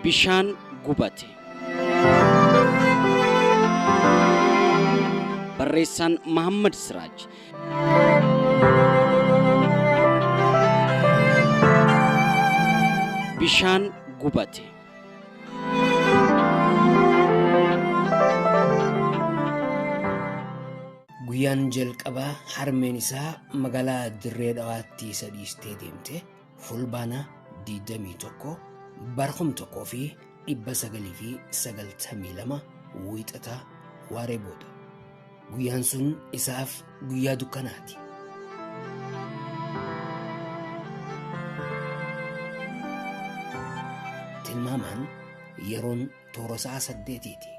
Bishaan gubate. Barreessaan Mahammad Siraaj. Bishaan gubate. Guyyaan jalqaba harmeen isaa magaalaa Dirree Dhawaatti isa dhiistee deemte Fulbaana 21 bara 1992 wiixataa waaree booda. Guyyaan sun isaaf guyyaa dukkanaati. Tilmaamaan yeroon toora sa'a saddeetiiti.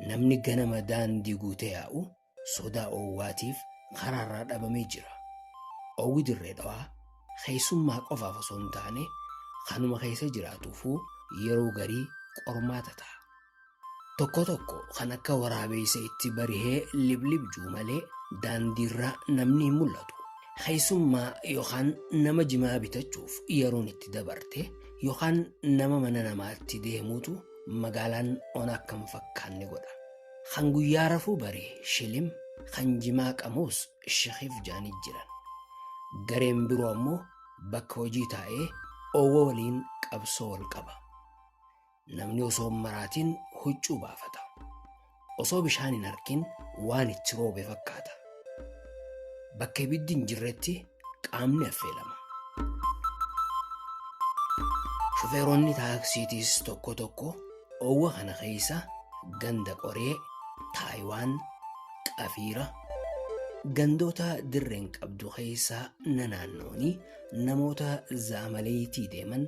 Namni ganama daandii guutee yaa'u sodaa oowwaatiif karaarraa dhabamee jira. Oowwi dirree dhawaa keessummaa qofaaf osoo hin taane kanuma keessa jiraatuufuu yeroo garii qormaata ta'a. Tokko tokko kan akka waraabeessa itti barihee liblibjuu malee daandiirraa namni hin mul'atu. Keessummaa yookaan nama jimaa bitachuuf yeroon itti dabarte yookaan nama mana namaatti deemuutu magaalaan ona akka hin fakkaanne godha. Kan guyyaa rafuu bari shilim, kan jimaa qamuus shekif jaanii jiran. Gareen biroo ammoo bakka hojii taa'ee oowwa waliin qabsoo wal qaba. Namni osoo hin maraatiin huccuu baafata. Osoo bishaan hin argin waan itti roobe fakkaata. Bakka ibiddi hin jirretti qaamni affeelama. Shufeeronni taaksiitiis tokko tokko oowwa kana keessa ganda qoree, Taayiwaan, Qafiira, gandoota dirreen qabdu keessa nanaannoonii namoota zaamaleetii deeman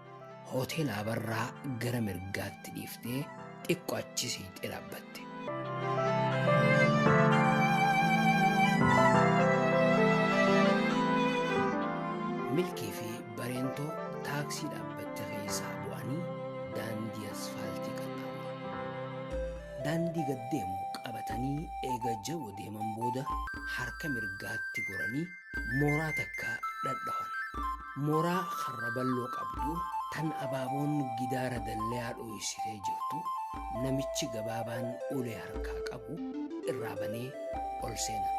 Hoteela Abarraa gara mirgaatti dhiiftee xiqqo achi siqxee dhaabbatte. Milkii fi Bareentoo taaksii dhaabbatte keessaa bu'anii daandii asfaaltii qaxxaamuran. Daandii gad deemu qabatanii eega jabo deeman booda harka mirgaatti goranii Mooraa takka dhadhawan. Mooraa karra balloo qabdu tan abaaboon gidaara dallayaa dhooysitee jirtu namichi gabaabaan ulee harkaa qabu irraa banee ol seena.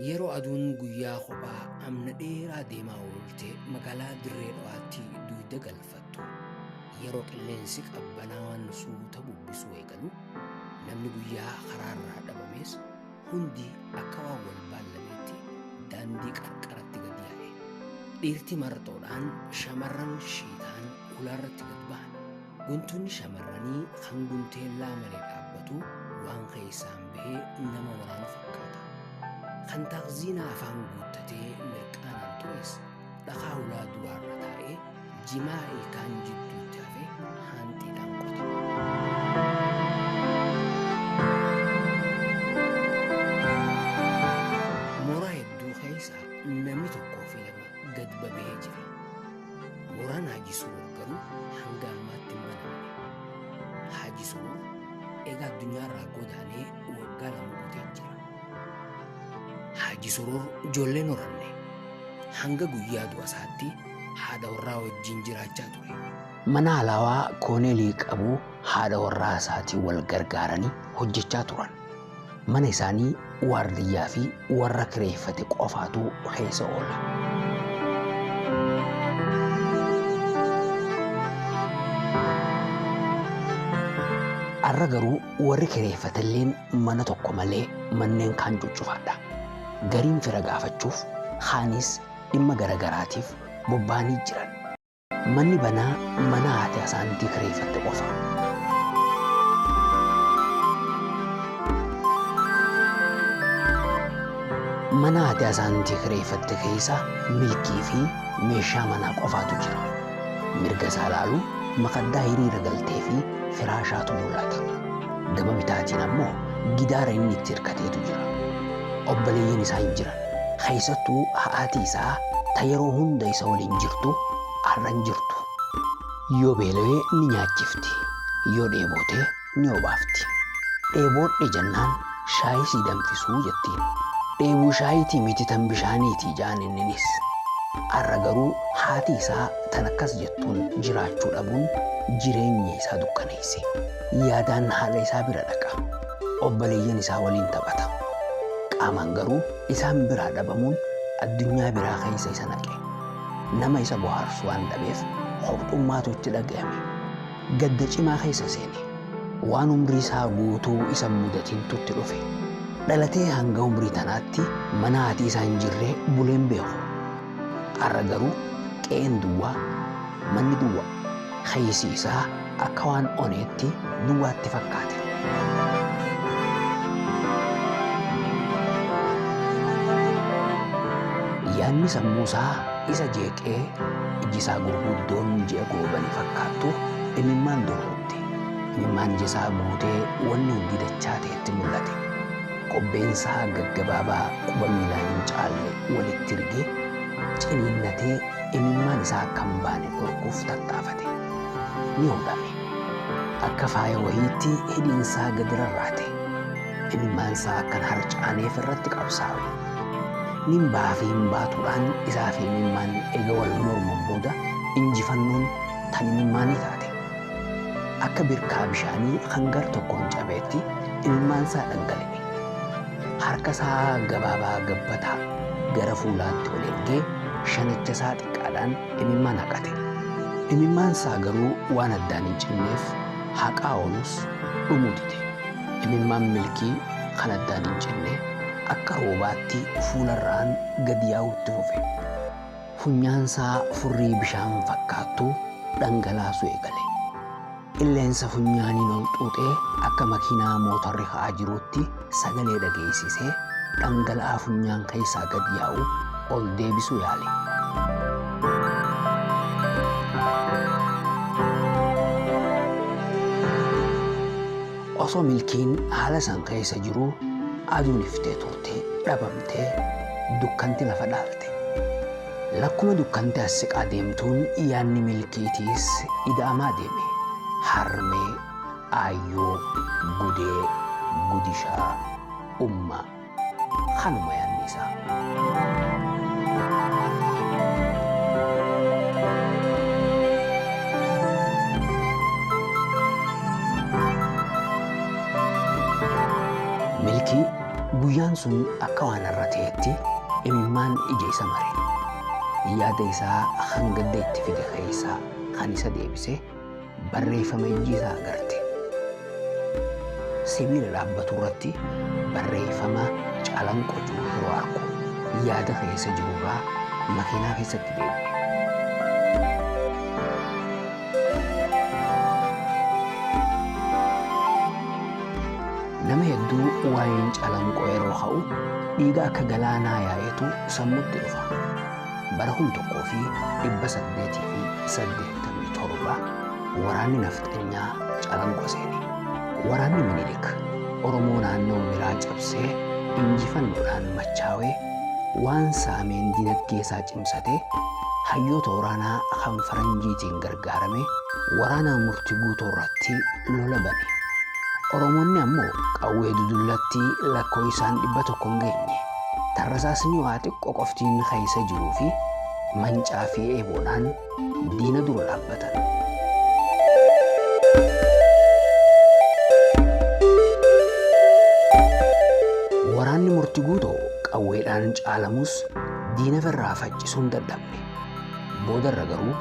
Yeroo aduun guyyaa kophaa amna dheeraa deemaa oolte magaalaa Dirree Dhawaatti duuyda galfatu. Jalqabdu. Yeroo qilleensi qabbanaawaan suuta bubbisuu eegalu namni guyyaa karaarraa dhabamees hundi akka waan wal baallameetti daandii qarqaratti gad yaa'e. Dhiirti marxoodhaan shamarran shiitaan kulaarratti gad bahan. Guntunni shamarranii kan gunteellaa malee dhaabbatu waan keessaan bahee nama waraanu fakkaata. Kan taakziinaa afaan guuttatee mirqaanaan turees Dhakaa ulaa duraarra taa'ee jimaa ilkaan jidduutti hafe haanxiidhaan qote. Mora hedduu keessa namni tokkoo fi lama gad babee jira. Moraan Haji Surur garuu hanga ammaatti hin banamne. Haji Surur egaa addunyaarraa godaanee waggaa lama guutee jira. Haaji Surur ijoollee horanne hanga guyyaa du'a isaatti haadha warraa wajjin jiraachaa ture. Mana alaawaa kooneelii qabu haadha warraa isaatiin wal gargaaranii hojjechaa turan. Mana isaanii waardiyyaa fi warra kireeffate qofaatu keessa oola. Har'a garuu Warri kireeffatelleen mana tokko malee manneen kaan cuccufaadha. Gariin fira gaafachuuf, kaanis dhimma garagaraatiif bobba'anii jiran. Manni banaa mana haati Asaantii kireeffatte qofa. Mana haati Asaantii kireeffatte keessa milkii fi meeshaa manaa qofaatu jira. Mirga isaa laaluun makaddaa hiriira galtee fi firaashaatu mul'ata. Gama bitaatiin ammoo gidaara inni itti hirkateetu jira. Obboleeyyan isaa hin jiran. Keessattuu ha'aati isaa ta yeroo hunda isa waliin jirtu har'a hin jirtu. Yoo beelawee ni nyaachifti. Yoo dheebote ni obaafti. Dheeboodhe jennaan shaayii sii danfisuu jettiin. Dheebuu shaayiitii miti tan bishaaniiti ja'an inninis. Arra garuu haati isaa tan akkas jettuun jiraachuu dhabuun jireenya isaa dukkaneeyse. Yaadaan haadha isaa bira dhaqa. Obboleeyyan isaa waliin taphata. Qaamaan garuu isaan biraa dhabamuun addunyaa biraa keeysa isa naqe. Nama isa bohaarsu waan dhabeef kophxummaatu itti dhagayame. gadda cimaa keessa seene. Waan umrii isaa guutuu isa hin mudatintu itti dhufe. Dhalatee hanga umrii tanaatti mana haati isaa hin jirre bulee hin beeku. Har'a garuu qe'een duwwaa, manni duwwaa, keessi isaa akka waan oneetti duwwaa itti fakkaate. Yaanni sammuu isaa Isa jeeqee ijji isaa gurguddoon ji'a goobani fakkaattu imimmaan dorrobde. Imimmaan ija isaa guutee wanni hundi dachaatee itti mullate. Qobbeen isaa gaggabaabaa quba miilaa hin caalle walitti rige, ciniinnatee imimmaan isaa akka hin baane dhorkuuf tattaafate. Ni hodhame. Akka faaya wahiitti hidhiin isaa gadi rarraate. imimmaan isaa akka hin harcaaneef irratti qabsaawe. Nimbaa fi hin baatuudhaan isaa fi imimmaan eega wal morman booda injifannoon tan imimmaanii taate. Akka birkaa bishaanii kan gar tokkoon cabeetti imimmaan isaa dhangala'e. Harka isaa gabaabaa gabbataa gara fuulaatti ol ergee shanicha isaa xiqqaadhaan imimmaan haqate. Imimmaan isaa garuu waan addaan hin cinneef haqaa oolus dhumuu dide. Imimmaan Milkii kan addaan hin cinne akka roobaatti fuularraan gad yaa'uu itti fufe. Funyaansaa furrii bishaan fakkaattu dhangalaasuu eegale. Qilleensa funyaaniin ol xuuxee akka makiinaa mootorri ka'aa jiruutti sagalee dhageessisee dhangala'aa funyaan keessaa gad yaa'u ol deebisuu yaale. Osoo milkiin haala san keessa jiruu aduun iftee turte dhabamtee dukkanti lafa dhaalte. Lakkuma dukkanti as siqaa deemtuun yaanni milkiitiis ida'amaa deeme. Harmee, aayyoo, gudee, gudishaa, ummaa. Kanuma yaadni isaa. Milkii guyyaan sun akka waan irra ta'etti imimmaan ija isa mare. Yaada isaa kan gadda itti fide keessaa kan isa deebise barreeffama ijji isaa agarte. Sibiila dhaabbatu irratti barreeffama calanqoo jiru yeroo argu yaada keessa jiru irraa makiinaa keessatti deebi'e. Nama hedduu waa'een calanqoo yeroo ka'u dhiiga akka galaanaa yaa'etu sammutti dhufa. Bara 1887 waraanni nafxanyaa Calanqo seene. Waraanni Minilik Oromoo naannoo Miraa cabsee injifannoodhaan machaawee waan saameen dinagdeesaa cimsatee hayyoota waraanaa kan faranjiitiin gargaaramee waraanaa murti guutoorratti lola bane. Oromoonni ammoo qawwee dudullatti lakkooysaan 100 hin geenye. Tarrasaasni waa xiqqo qofti inni keessa jiruu fi mancaa fi eeboodhaan diina dura dhaabbatan. Waraanni murti guutoo qawweedhaan caalamus diina firraa faccisuun dadhabne. Boodarra garuu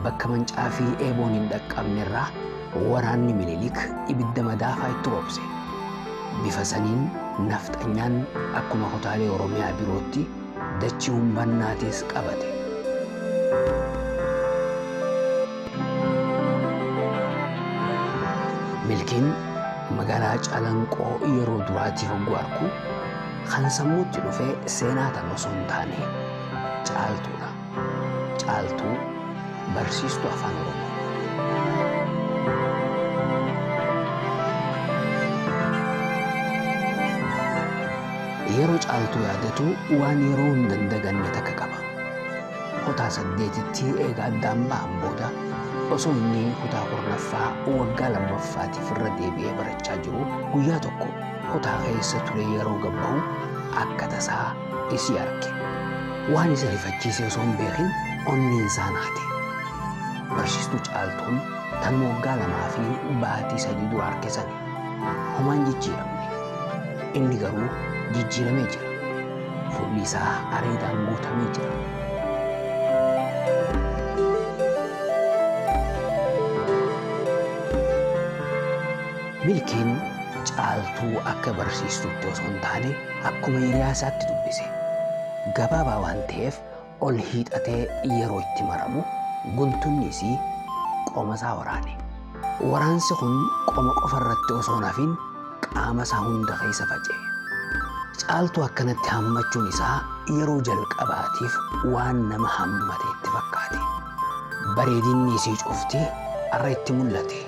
bakka mancaa fi eeboon hin dhaqqabne irraa Waraanni Minilik ibidda madaafaa itti roobse. Bifa saniin nafxanyaan akkuma kutaalee Oromiyaa birootti dachii humbannaatis qabate. Milkiin magaalaa Calanqoo yeroo duraatiif hogguu arku kan sammuutti dhufe seenaa tan osoo hin taane caaltuudha. Caaltuu barsiistuu afaan oromoo. Yeroo caaltuu yaadatu waan yeroo hin dandaganne takka qaba. Kutaa saddeetitti eegaa addaan bahan booda osoo inni kutaa kurnaffaa waggaa lammaffaatiif irra deebi'ee barachaa jiru guyyaa tokko kutaa keessa ture yeroo gabbahu akka tasaa isii arge. Waan isa rifachiise osoo hin beekin onneen isaa naate. Barsiistuu caaltuun tan moggaa lamaa fi baatii sadii dura arge sani. Homaan jijjiiramne. Inni garuu jijjiiramee jira. Fuulli isaa areedaan guutamee jira. Milkiin caaltuu akka barsiistuutti osoo hin taane Akkuma hiriyaa isaatti dubbise. Gabaabaa waan ta'eef ol hiixatee yeroo itti maramu guntunni isii qoma isaa waraane. Waraansi kun qoma qofa irratti osoo hin hafin qaama isaa hunda keessa faca'e. Caaltuu akkanatti hammachuun isaa yeroo jalqabaatiif waan nama hammate itti fakkaate. Bareedinni isii cufti har'a itti mul'ate.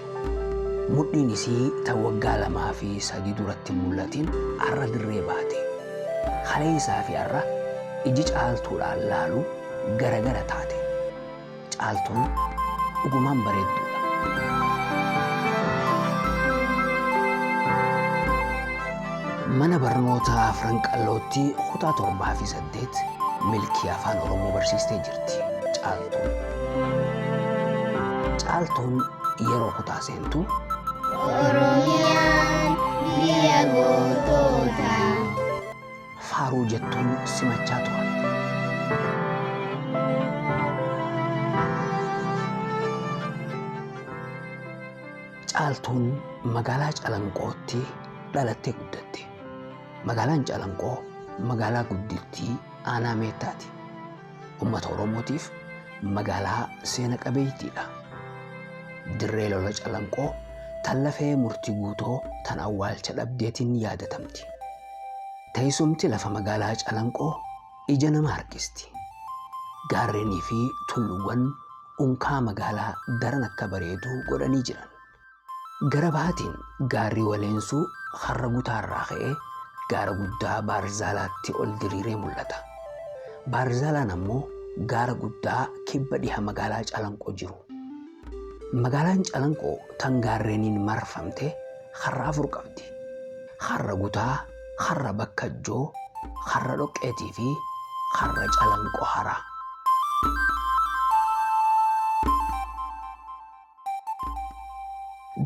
Mudhiin isii ta waggaa lamaa fi sadii duratti hin mullatin arra dirree baate. Kaleessaa fi arra iji Caaltuudhaan laalu gara gara taate. Caaltuun dhugumaan bareedduu dha. Mana barnootaa Afran Qallootti kutaa torbaa fi 8 milkii afaan oromoo barsiistee jirti caaltuun caaltuun yeroo kutaa seentu Oromiyaan biyya gootoota. faaruu jettuun simachaa turan caaltuun magaalaa calanqootti dhalattee guddatte Magaalaan Calanqoo magaalaa guddittii aanaa Meettaati. Uummata Oromootiif magaalaa seena qabeeytiidha. Dirree lola Calanqoo tan lafee murtii guutoo tan awwaalcha dhabdeetiin yaadatamti. Teessumti lafa magaalaa Calanqoo ija nama harkisti. Gaarreenii fi tulluuwwan unkaa magaalaa daran akka bareedu godhanii jiran. Gara bahaatiin gaarri Waleensuu Harra Gutaa irraa ka'ee gaara guddaa Baarzaalaatti ol diriiree mul'ata. Baarzaalaan ammoo gaara guddaa kibba dhiha magaalaa Calanqoo jiru. Magaalaan Calanqoo tan gaarreeniin marfamte harra afur qabdi. Harra Gutaa, harra Bakkajjoo, harra Dhoqqeetii fi harra Calanqoo Haraa.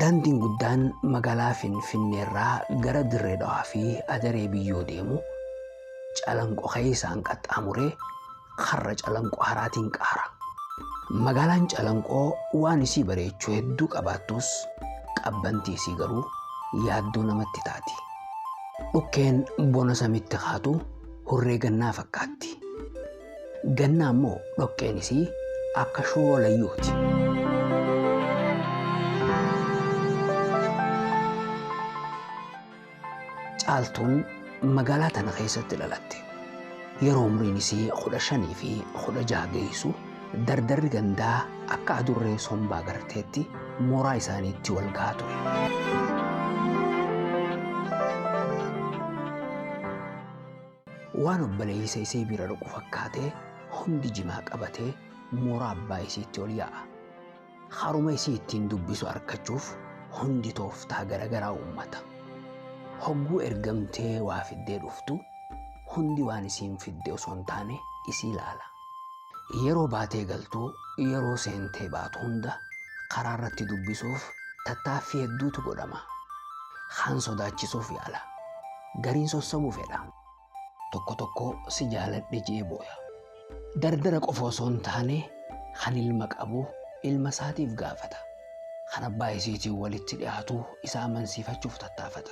Daandiin guddaan magaalaa Finfinneerraa gara Dirree Dhawaa fi Adaree Biyyoo deemu Calanqo keessaan qaxxaamuree karra Calanqo haraatiin qaara. Magaalaan Calanqoo waan isii bareechuu hedduu qabaattus qabbantii isii garuu yaaddoo namatti taati. Dhukkeen bona samitti kaatu hurree gannaa fakkaatti. Ganna ammoo dhoqqeen isii akka shuuroo layyuuti. Caaltuun magaalaa tana keessatti dhalatte. Yeroo umriin isii kudha shanii fi kudha jaha geessu dardarri gandaa akka adurree sombaa garteetti mooraa isaaniitti wal gahaa ture. Waan obboleeysa isii bira dhaqu fakkaatee hundi jimaa qabatee mooraa abbaa isiitti ol yaa'a. Haruma isii ittiin dubbisu arkachuuf hundi tooftaa garagaraa uummata. Hogguu ergamtee waa fiddee dhuftu hundi waan isiin fidde osoo hin taane isii laala. Yeroo baatee galtu, yeroo seentee baatu hunda karaa irratti dubbisuuf tattaaffii hedduutu godhama. Kaan sodaachisuuf yaala. Gariin sossobuu fedha. Tokko tokko si jaaladhe je'ee booya. Dardara qofa osoo hin taane kan ilma qabu ilma isaatiif gaafata. Kan abbaa isiitiin walitti dhiyaatu isa amansiifachuuf tattaafata.